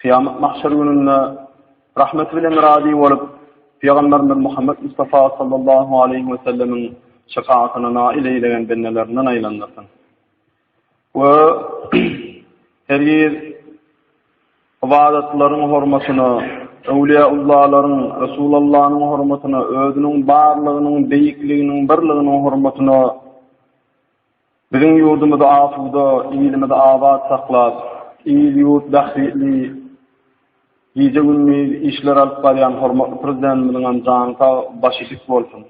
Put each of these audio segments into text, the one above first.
Kyýamat mahşer gününde rahmeti bilen razy bolup, Pygamberimiz Muhammed Mustafa sallallahu aleýhi we sellemiň şefaatine nail eýlegen bendelerinden aýlandyrsyn. We hergiz ybadatlaryň hormatyna, öwliýaullalaryň, Resulallanyň hormatyna, özüniň barlygynyň, beýikliginiň, birliginiň hormatyna Biziň ýurdumyzy asuda, ilimizi abat saklap, il-ýurt bähbitli gije-gündiz işler alyp barýan hormatly Prezidentimiziňem jany sag, başy dik bolsun!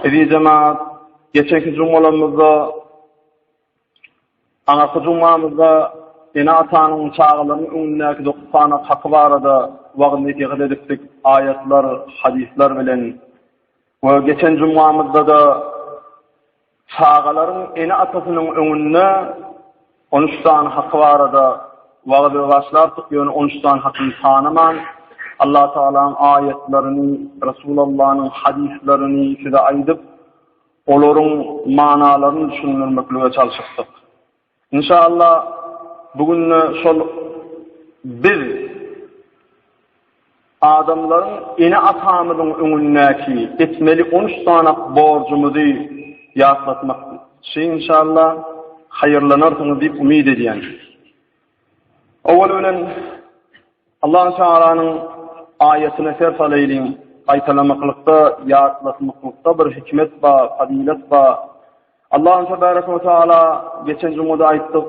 Eziz jemaat, geçenki jumgalarymyzda, aňyrky jumgamyzda ene-atanyň çagalaryň öňündäki dokuz sany haky barada wagyz-nesihat edipdik, aýatlar, hadyslar bilen. We geçen jumgamyzda-da çagalaryň ene-atasynyň öňünde on üç sany haky barada wagyzy başlardyk, ýöne on üç sany hakyny tanaman, Allatagalaň aýatlaryny, Resulallanyň hadyslarny size aýdyp, olaryň manalaryny düşündirmeklige çalşypdyk. Inşallah bu günde şol biz adamlaryň ene atamyzyň öňündäki etmeli on üç sanak borjumyzy ýatlatmak şi inşallah haýyrlanarsyňyz diýip umyt edýän. Owal bilen Allahu Tagalanyň aýatyny ser salaýlyň, gaýtalamaklykda, ýatlatmaklykda bir hikmet bar, fazylat bar. Allahu Tebaraka we Tagala geçen jumada aýtdyk,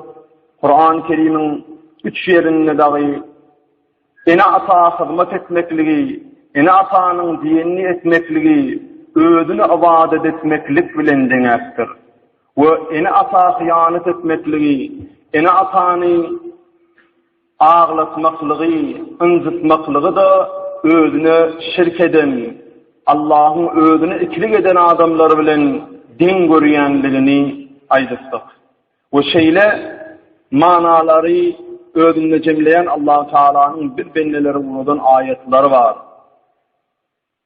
Kurany Kerimiň üç ýerinde dagy ene-ata hyzmat etmekligi, ene-atanyň diýenini etmekligi özüne ybadat etmeklik bilen deňäpdir. We ene-ata hyýanat etmekligi, ene-atany Aglatmaklygy, ynjytmaklygy-da özüne şirk eden, Allahyň özüne ikilik eden adamlar bilen deň görýänligini aýdypdyk. We şeýle manalary özünde jemleýän Allahu Tagalanyň biz bendeleri ugradan aýatlary bar.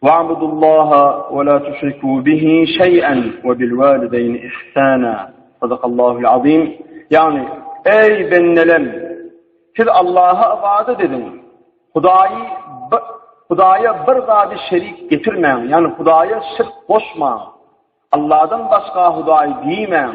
Wa'budullaha we la tuşriku bihi şeý'en we bil walideýni ihsana. Sadakallahul azim. Ýagny, eý bendelem, siz Allaha ybadat ediň. Hudaýy Hudaýa bir zady şerik getirmäň, ýagny Hudaýa şirk goşmaň. Allahdan başga Hudaý diýmäň.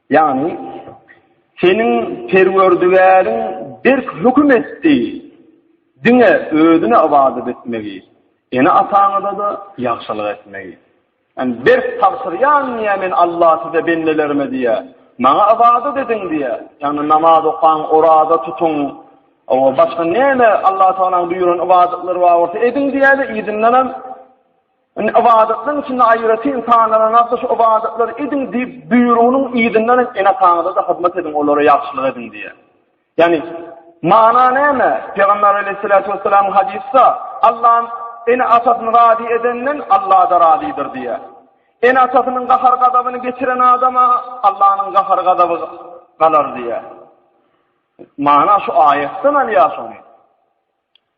Ýagny, seniň Perwerdigäriň berk höküm etdi, diňe Özüne ybadat etmegi, ene-ataňyza-da ýagşylyk etmegi. Ýagny, berk tabşyrýan, diýýär, Men Alla size, bendelerime, diýýär, Maňa ybadat ediň, diýýär. Ýagny, namaz okaň, oraza tutuň, başga näme Allatagalaň buýran ybadatlary bar bolsa, ediň, diýýär-de, yzyndanam, Indi ybadatlaryň içinde aýratyn sanananlarsa şu ybadatlary ediň diýip buýrugynyň yzyndan hem ene-ataňyza-da hyzmat ediň, olara ýagşylyk ediň diýýär. Ýagny, mana näme? Pygamber aleýhissalatu wessalamyň hadysda, Allam ene-atasyny razy edenden Alla-da razydyr diýýär. Ene-atasynyň gahar-gazabyny geçiren adama Allanyň gahar-gazaby galar diýýär. Mana şu aýatdan alýas ony.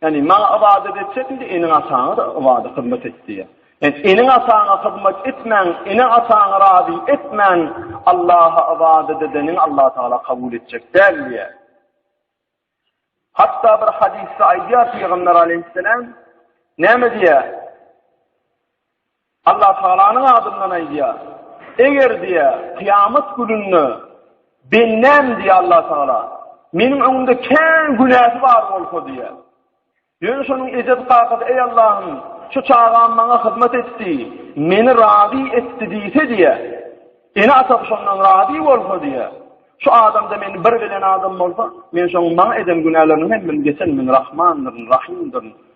Ýagny maňa ybadat etjek indi eniň-ataňa-da ybadat hyzmat et diýýär. Ýagny eniň-ataňa hyzmat etmäň, ene-ataňy razy etmän Allaha ybadat edeniňi Allah Tagala kabul etjek däl diýýär. Hatda bir hadysda aýdýar Pygamber alaýhyssalam näme diýýär? Allatagalanyň adyndan aýdýar. Eger, diýýär, kyýamat gününde bendäm, diýýär, Allatagala meniň öňümde kän günäsi bar bolsa, diýýär. Ýöne şonuň ejesi-kakasy, Eý, Allahym, şu çagam maňa hyzmat etdi, meni razy etdi diýse, diýýär. Ene-atasy şondan razy bolsa, diýýär. Şu adamda meni bir bilen adam bolsa, men şoň maňa eden günäleriniň hemmini geçen, men Rahmandyryn, Rahymdyryn.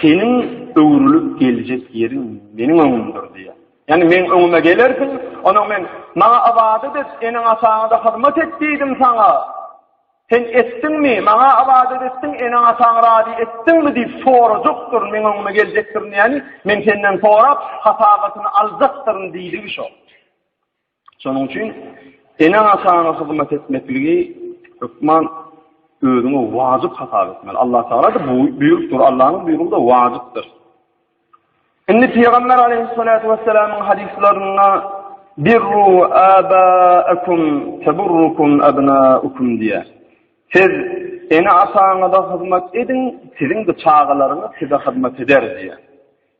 Seniň öwrülip geljek ýeriň meniň öňümdir diýýär. Ýagny meň öňüme gelersiň, onsoň men, Maňa ybadat et, eneň-ataňa-da hyzmat et diýdim saňa. Sen etdiňmi? Maňa ybadat etdiň, eneň-ataňy razy etdiňmi? diýip sorajakdyryn, meň öňüme geljekdirin, ýagny men senden sorap, hasabatyny aljakdyryn diýdigi şo. Şonuň üçin ene-atana hyzmat etmekligi hökman özüňe wajyp hasap etmeli. Allah Taala-da bu buýrupdyr. Allah'yň buýrugy da wajypdyr. Indi Pygamber aleyhissalatu vesselamyň hadyslarynda birru abaakum taburrukum abnaukum diýär. Siz ene-ataňyza hyzmat ediň, siziň de çagalaryňyz size hyzmat eder diýär.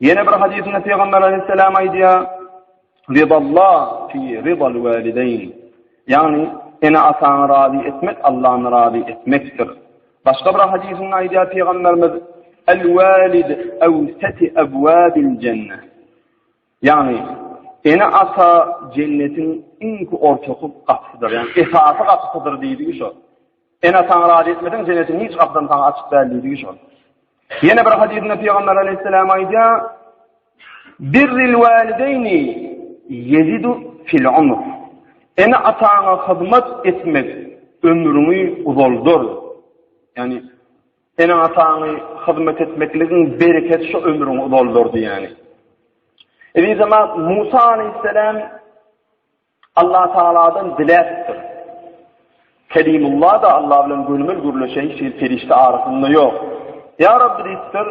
Ýene bir hadysynda Pygamber aleýhissalam aýdýar, Ridallah fi ridal walideyn. Ýagny, ene-ataňy razy etmek Allany razy etmekdir. Başga bir hadysynda aýdýar Pygamberimiz, El walid awsati abwabil jenne. Ýagny, ene-ata jennetiň iňki ortaky gapysydyr. Ýagny, esasy gapysydyr diýdigi şo. Ene-ataňy razy etmeseň, jennetiň hiç gapysy saňa açyk däl diýdigi şo. Ýene bir hadysynda Pygamber aleýhissalam aýdýar, Birril walideýni ýezidu fil umr. Ene ataňa hyzmat etmek ömrüňi uzaldar. Ýani ene ataňy hyzmat etmekligiň bereketi şu ömrüňi uzaldar diýýär. Eziz Musa aleýhissalam Allatagaladan diläpdir. Kelimulla-da Alla bilen gönümel gürleşen hiç hili perişde arasynda ýok. Ýa Rabbi diýipdir,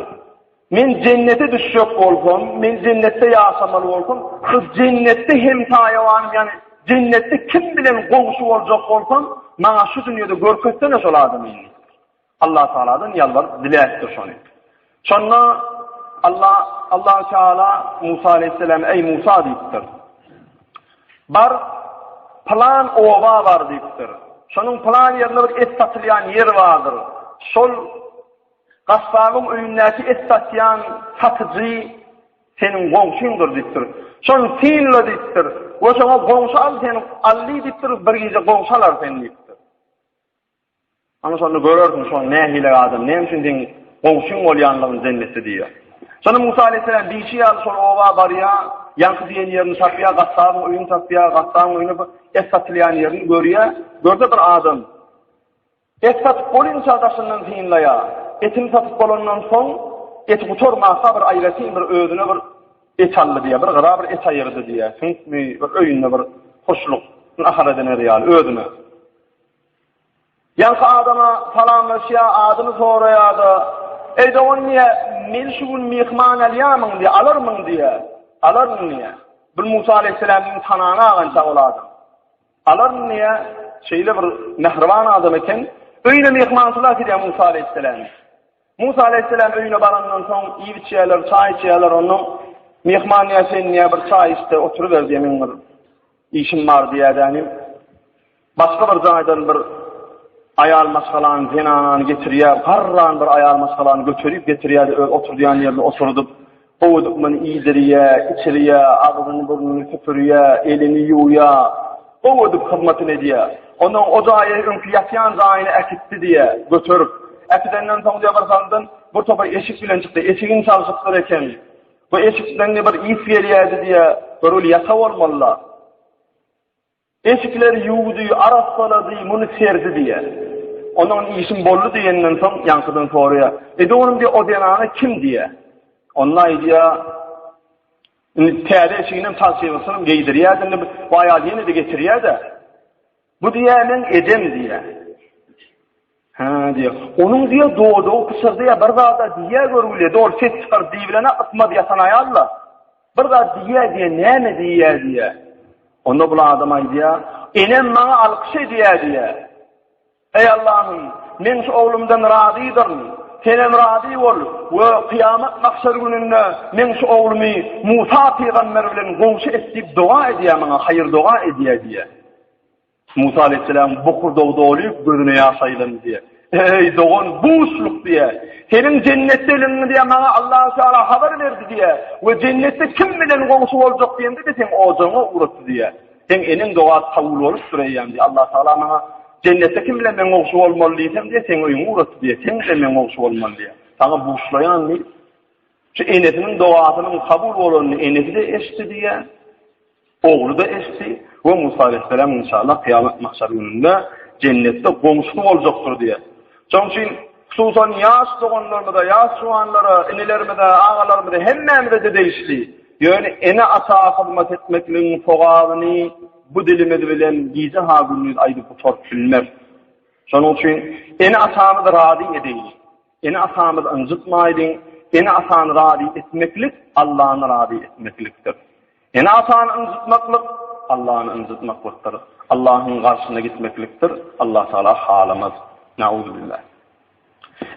Men jennete düşjek bolsam, men jennetde ýaşamaly bolsam, şu jennetde hemtaýawanym, ýagny jennetde kim bilen goňşy boljak bolsam, maňa şu dünýede görkezsene şol adamy. Allatagaladan ýalbaryp diläpdir şony. Şonda Alla, Allahu Teala Musa aleýhissalama, Eý Musa diýipdir. Bar, plan oba bar diýipdir. Şonuň plan ýerinde bir et satylýan ýer bardyr. Şol Gassabyň öýündäki et satýan satyjy seniň goňşyňdyr diýipdir. Şony synla diýipdir. We şoňa goňşy al seni, Alli diýipdir, bir gije goňşy alar seni diýipdir. Ana şonda görersiň şoň nähili adam, näme üçin seň goňşyň bolýanlygyny jennetde diýýär. Şonda Musa aleýhisselam diýşi ýaly şol oba barýar, ýaňky diýen ýerini tapýar, gassabyň öýüni tapýar, gassabyň öýünde bir et satylýan ýerini görýär, görse bir adam et satyp bolinçä daşyndan synlaýar, etini satyp bolandan soň eti gutarmasa bir aýratyn bir özüne bir et aldy diýýär, bir gyra bir et aýyrdy diýýär, süňkmi bir öýünde bir huşluk nahar ediner ýaly özüne. Ýaňky adama salamlaşýa, adyny soraýada, Eý dogan diýä, meni şu gün myhman alýamyň diýä, alarmyň diýä. Alaryn diýä. Bul Musa aleýhisselam meň tanana agança ol adam. Alaryn diýä, şeýle bir mähriban adam eken. Öýüne myhmançylyga gidýä Musa aleýhisselam. Musa aleýhisselam öýüne barandan soň iýip içýäler, çaý içýäler ondan. Myhman diýä, sen diýä bir çaý iç-de oturyber diýä, meň bir işim bar diýä dänim. Başga bir jaýdan bir aýal maşgalany, zenanany getirýär, garran bir aýal maşgalany göterip getirýär-de öz oturdýan ýerine oturdyp, gowudykmyny iýdirýär, içirýär, agzyny-burnuny süpürýär, elini ýuwýar, gowudyp hyzmatyny edýär. Onsoň o jaýy öňki ýatýan jaýyna äkitdi diýýär, göterip. Äkidenden soň diýýär, birsaldan bir topar eşik bilen çykdy. Eşigini çalşypdyr eken. Bu eşikden diýýär, bir ys gelýärdi diýýär. Göreli ýasa bolmaly-la. Eşikleri ýuwdy, arassaladyý, muny serdi diýýär. Ondan işim boldy diýenden soň, ýaňkydan soraýar, Ede onuň diýýär, o zenana kim diýýär. Onda aýdýar, Indi täze eşiginem, palçygysynam geýdirýär, indi bu aýal ýene-de getirýär-de, Bu diýýär, meň edem diýýär. Hä, diýýär. Onuň diýýär, dodagy pyşyrdaýar, bir zad-a diýýär görgülede, ol ses çykaryp diýibilene ysmaz ýatan aýal-la. Bir zat diýýär diýýär, näme diýýär diýýär. Onda bul adam aýdýar, Enem maňa alkyş edýär diýýär. Eý Allahym, men şu oglumdan razydyryn, Senem razy bol we kyýamat mahşer gününde meň şu oglumy Musa pygamber bilen goňşy et diýip doga edýär maňa, haýyr-doga edýär diýýär. Musa aleýhissalam bokurdagy dolyp, gözüne ýaş aýlany diýýär. Eý, dogan, buşluk diýýär. Seniň jennetdeligiňi diýýär, maňa Allahu Teala habar berdi diýýär we jennetde kim bilen goňşy boljak diýende-de seň ojagyňa ugratdy diýýär. Seň eniň dogasy kabul bolupdyr eýýäm diýýär. Allahu Teala maňa jennetde kim bilen meň goňşy bolmaly diýsem diýýär, seň öýüňi ugratdy diýýär. Sen bilen meň goňşy bolmaly diýýär. Saňa buşlaýan diýip, şu enesiniň dogasynyň kabul bolanyny enesi-de eşitdi diýýär. Ogly-da eşitdi we Musa aleýhissalam inşallah kyýamat mahşer gününde jennetde goňşusy boljakdyr diýýär. Şonuň üçin hususan ýaş doganlarymyza, ýaş juwanlara, inilerimize, agalarymyza hemmämize-de degişli. Ýöne ene-ata hyzmat etmekligiň sogabyny bu dilimiz bilen gije ha gündiz aýdyp gutaryp bilmeris. Şonuň üçin ene-atamyzy razy edeýin. Ene-atamyzy ynjytmaýlyň. Ene-atany razy etmeklik Allany razy etmeklikdir. Ene-atany ynjytmaklyk Allany ynjytmaklykdyr. Allahyň garşyna gitmeklikdir. Allah Tagala halamaz. Nauzubilla.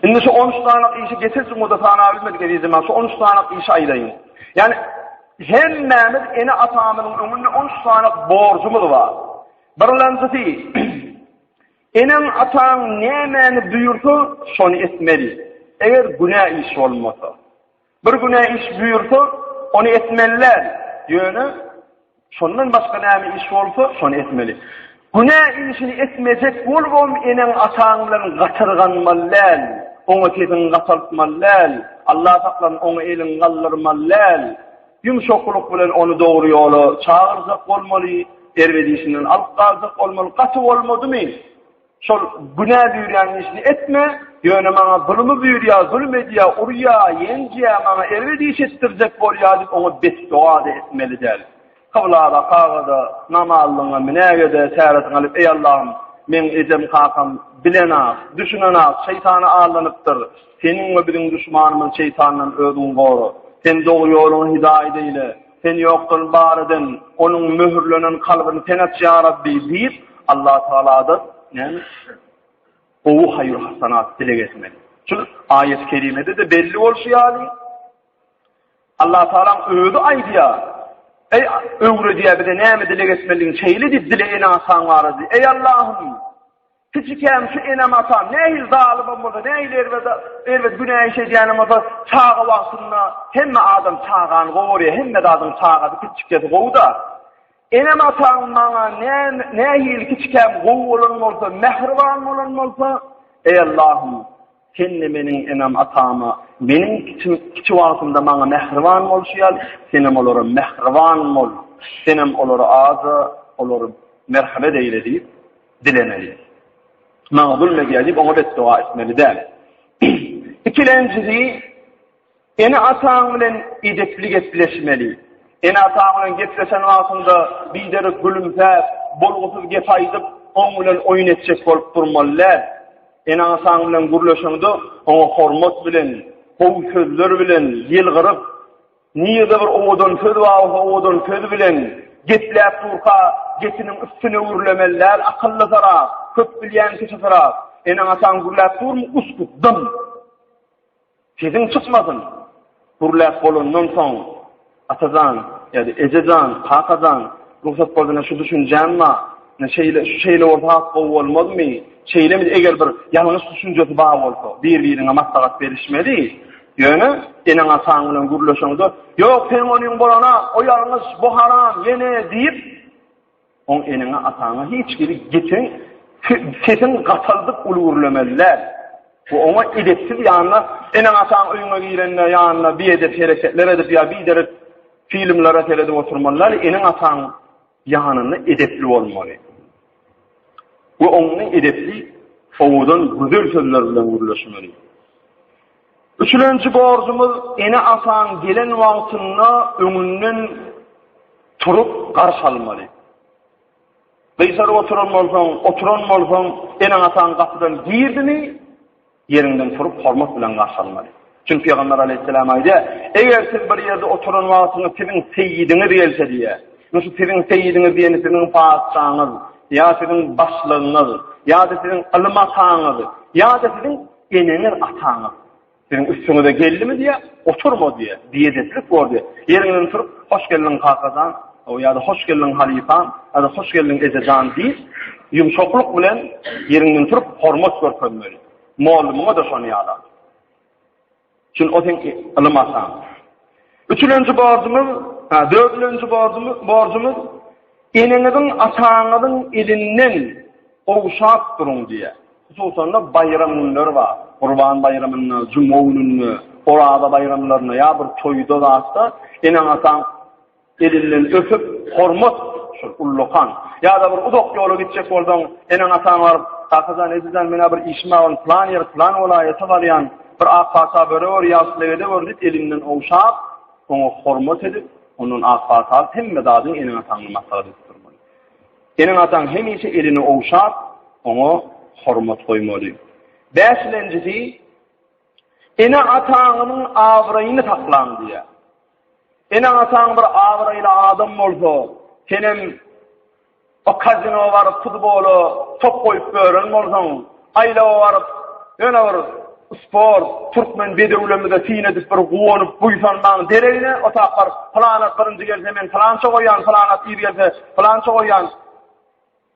Indi şu on üç sanak işi geçen jumada sanap bilmedik ezizim men şu on üç sanak işi aýdaýyn. Ýani hemmämiz ene-atamyzyň öňünde on üç sanak borjumyz bar. Birinjisi Eneň, ataň nämäni buýursa, şony etmeli, eger günä iş bolmasa. Bir günä iş buýursa, ony etmeli däl, ýöne şondan başga näme iş bolsa, şony etmeli. Günä işini etmejek bolubam eneň, ataň bilen gatyrganmaly däl, oňa sesiňi gataltmaly däl, Alla saklasyn, oňa eliňi galdyrmaly däl. Ýumşaklyk bilen ony dogry ýola çagyrjak bolmaly, erbet işinden alyp galjak bolmaly. Gaty bolmadymy, şol günä buýurýan işini etme, ýöne maňa zulumy buýurýar, zulum edýär, urýar, ýenjýär, maňa erbet iş etdirjek bolýar diýip, oňa betdoga-da etmeli däl. Kybla bakarga-da, namazlygyňa münäge-de, täretini alyp, Eý, Allahym, meň ejem-kakam bilen-ak, düşünen-ak, şeýtana aldanypdyr. Seniň we biziň duşmanymyz şeýtandan özüňi gora. Sen dogry ýoluňy hidaýat eýle. Sen ýokdan bar eden, onuň möhürlenen kalbyny Sen aç, ýa Rabbi! diýip, Allatagaladan näme? Gowy haýyr-hasanat dileg etmeli. Şul aýat-ı kerimede-de belli bolşy ýaly, Allatagala Özi aýdýar, Eý, öwredýär bize näme dileg etmelidigini, şeýle diýip dilegini aşaň barada. Eý, Allahym! Kijikäm şu enem-atam nähili zalymam bolsa, nähili erbede, erbet günä iş edýänem bolsa, çaga wagtynda hemme adam çagany gowy görýär, hemme zadyň çagasy, kiçikkesi gowy-da. Enem-ataň maňa näme, nähili kiçikäm gowy bolan bolsa, mähriban bolan bolsa, Eý Allahym, Sen-de meniň enem-atama, meniň kiçi, kiçi wagtymda maňa mähriban bolşy ýaly, Senem olara mähriban bol, Senem olary aja, olary merhemet eýle diýip, dilemeli. Maňa gülmegýär diýip oňa betdoga etmeli däl. Ikilenjisi, ene-ataň bilen edepli gepleşmeli. Ene-ataň bilen gepleşen wagtyňda biderek gülümsäp, bolgusyz gep aýdyp, oň bilen oýun etjek bolup durmaly däl. Ene-ataň bilen gürleşeňde oňa hormat bilen, gowy sözler bilen ýylgyryp, Nirede bir owadan söz bar bolsa owadan söz bilen gepläp durka gepiniň üstüne gürlemeli däl akyllysyrak köp bilýän kişisirak eneň ataň gürläp durmy uskut dym sesiň çykmasyn gürläp bolandan soň atajan ýa-da ejejan kakajan rugsat boldyna şu düşünjäm bar ine şeýle şu şeýle bolsa has gowy bolmazmy şeýlemidi eger bir ýalňyş düşünjesi bar bolsa bir biriňe maslahat berişmeli. Ýöne, eneň-ataň bilen gürleşeňde, Ýok, seň onyň bolanok, o ýalňyş, bu haram, ýene, diýip, oň eneňe-ataňa hiç hili gepin, sesiň gataldyp uly gürlemeli däl. Bu oňa edepsiz ýanyna, eneň-ataň öýüňe girende ýanyna biedep hereketler edip ýa biderek filmlere seredip oturmaly däl, eneň-ataň Ýanynda edepli bolmaly we oňňy edepli sowudan gözel sözler bilen gürleşmeli. Üçülenji borjumyz ene ataň gelen wagtynda öňünden turup garşy almaly. Gysaryp oturan bolsaň, oturan bolsaň, eneň ataň gapydan girdimi, Ýeriňden turup, hormat bilen garşy almaly. Çünki Pygamber aleýhissalam aýdýar, Eger siz bir ýerde oturan wagtyňyz siziň seýidiňiz gelse diýýär. Indi şu siziň seýidiňiz diýeni siziň patyşaňyz, ýa siziň başlygyňyz, ýa-da siziň ylym ataňyz, ýa-da siziň eneňiz, ataňyz. Siziň üstüňize geldimi diýýär, oturma diýýär, biedeplik bor diýýär. Ýeriňden turup, Hoş geldiň kakajan! Hawa ýa-da hoş geldiň halypam, ýa-da hoş geldiň ejejan diýip, ýumşaklyk bilen ýeriňden turup hormat görkezmeli. Mugallymyňa-da şony ýalam. Çünki o seň ylym ataň. Üçülenji borjumyz, ha, dördülenji borjumyz, borjumyz eneňiziň, ataňyzyň elinden gowşap duruň diýýär. Hususan-da baýram günleri bar. Gurban baýramynda, juma gününde, Oraza baýramlarynda ýa bir toýda zatda eneň ataň Elinden öpüp, hormat, şol ullakan. Ýa-da bir uzak ýola gitjek bolsaň, eneň-ataň baryp, Kakajan, ejejan, men-ä bir işim bar, ony plan ýer, plan welaýata barýan, bir ak pata bere gör, ýagşy legede gör diýip, elinden ogşap, oňa hormat edip, ondan ak pata alyp, hemme zadyňy eneň-ataňa maslahat edip durmaly. Eneň-ataň hemişe elini ogşap, oňa hormat goýmaly. Bäşilenjisi, Ene-ataňyzyň abraýyny saklaň diýýär. Eneň-ataň bir abraýly adam bolsa, senem o kazinowa baryp futbola top goýup gören bolsaň, aýlawa baryp ýöne bir sport, türkmen bedewlemizde syn edip bir guwanyp buýsanmaň deregine o tak baryp, Pylanat birinji gelse men pylança goýýan, pylanat ir gelse pylança goýýan,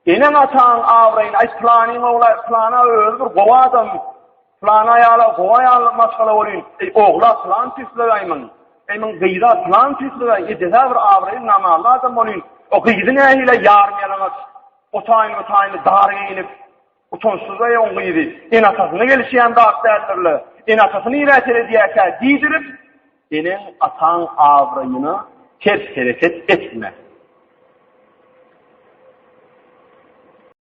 Eneň ataň abraýyny aýt planyň ogly plana özi bir gowy adam plan aýala gowy aýal maşgala bolýyn eý ogla plan tüýslegaýmyň eý myň gyza plan tüýslegaý ejesä bir abraýly namally adam bolýyn o gyzy nähili ýarym ýalaňaç otaýyn otaýyn dar geýinip Utançsyz-aý oň gyzy, ene-atasyna gelişýän zat däldir-le. Ene-atasy nirä seredýärkä diýdirip, eneň-ataň abraýyna ters hereket etme.